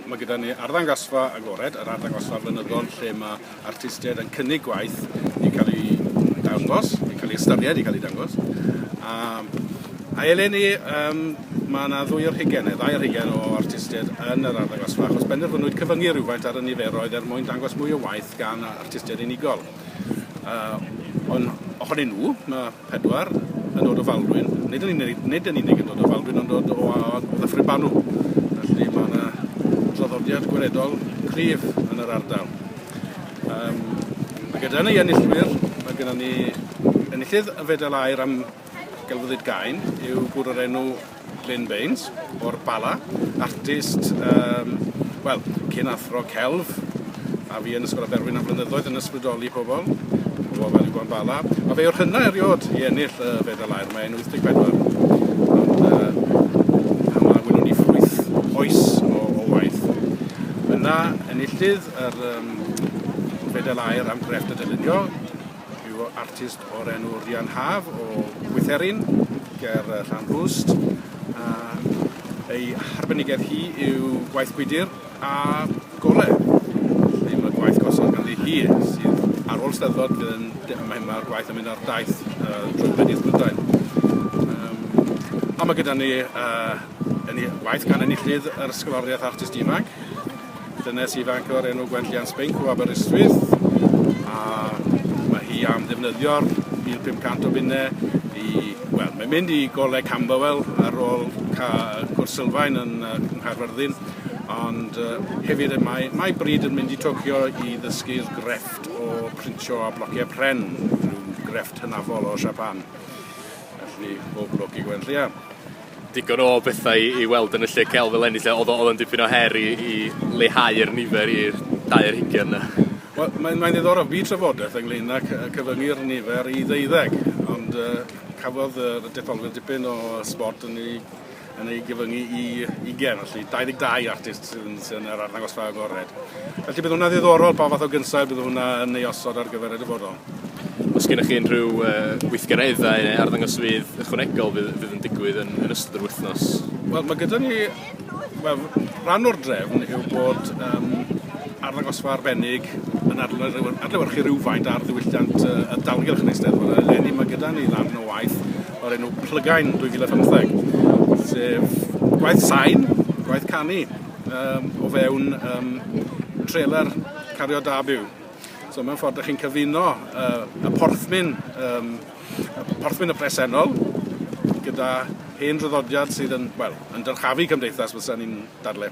Mae gyda ni arddangosfa agored, yr arddangosfa flynyddol lle mae artistiaid yn cynnig gwaith i cael ei dangos, i cael ei ystyried, i cael ei dangos. A, a eleni, um, mae yna ddwy o'r hugen, neu ddau o'r hugen o artistiaid yn yr arddangosfa, achos benderfynwyd cyfyngu rhywfaint ar y niferoedd er mwyn dangos mwy o waith gan artistiaid unigol. Uh, ond ohonyn nhw, mae Pedwar yn dod o Faldwyn, nid yn unig nid yn unig yn dod o Faldwyn ond dod o a- o Ddyffryn Banw, felly ma' 'na draddodiad gweledol cryf yn yr ardal. Yym a gyda ni enillwyr ma' gynnon ni enillydd y Fedal Aur am Gelfyddyd Gain yw gŵr o'r enw Glyn Baines o'r Bala, artist yym wel, cyn athro celf, a fi yn Ysgol Aberwyn am flynyddoedd yn ysbrydoli pobl o ofal i Gwan Bala, a fe yw'r hynna eriod i ennill y fedal aur, mae e'n 84, ond yy a ma' welwn ni ffrwyth oes o o waith. Yna enillydd yr yym fedal aur am grefft y dylunio, Rhyw artist o'r enw Rhian Haf o Bwytherin ger Llanrwst a ei harbenigedd hi yw gwaith gwydr a gore. Felly mae'r gwaith gosod ganddi hi sydd ar ôl Steddfod bydd yn... mae mae'r gwaith yn mynd ar daith uh, drwy Bedydd Prydain. Um, a mae gyda ni uh, yn waith gan enillydd yr ysgoloriaeth artist ifanc Dynes ifanc o'r enw Gwenllian Spink o Aberystwyth a mae hi am ddefnyddio'r 1500 o bunne i, wel, mae'n mynd i goleg Camberwell ar ôl cwrs sylfaen yn Nghaerfyrddin, ond uh, hefyd mae, mae bryd yn mynd i Tokyo i ddysgu'r grefft o printio a blociau pren, rhyw grefft hynafol o Japan. Felly, bob lwc i Gwenllian. digon o bethau i i weld yn y lle celf eleni 'lly odd o odd o'n dipyn o her i i leihau'r nifer i'r dau ar hugian 'na. Wel mae'n mae'n ddiddorol bu trafodeth ynglŷn â cy- yy cyfyngu'r nifer i ddeuddeg ond yy cafodd yy y detholiad dipyn o yy sbort yn ei yn ei gyfyngu i ugen felly dau ddeg dau artist sydd yn sy yn yr arddangosfa agored. Felly bydd wnna ddiddorol pa fath o gynsail bydd hwnna yn ei osod ar gyfer y dyfodol. Os gennych chi unrhyw weithgareddau neu arddangosfeydd ychwanegol fydd fydd yn digwydd yn yn ystod yr wythnos? Wel ma' gyda ni wel rhan o'r drefn yw bod yym arddangosfa arbennig yn adlew- adlewyrchu rywfaint ar ddiwylliant yy y dalgylch yn Eisteddfod a eleni ma' gyda ni ddarn o waith o'r enw Plygain 2015 sef gwaith sain, gwaith canu yym o fewn yym trailer cario da byw. So mewn ffordd, ydych chi'n cyfuno uh, y porthmyn, um, y porthmyn y presennol gyda hen draddodiad sydd yn, wel, yn dyrchafu cymdeithas, fysa ni'n dadle.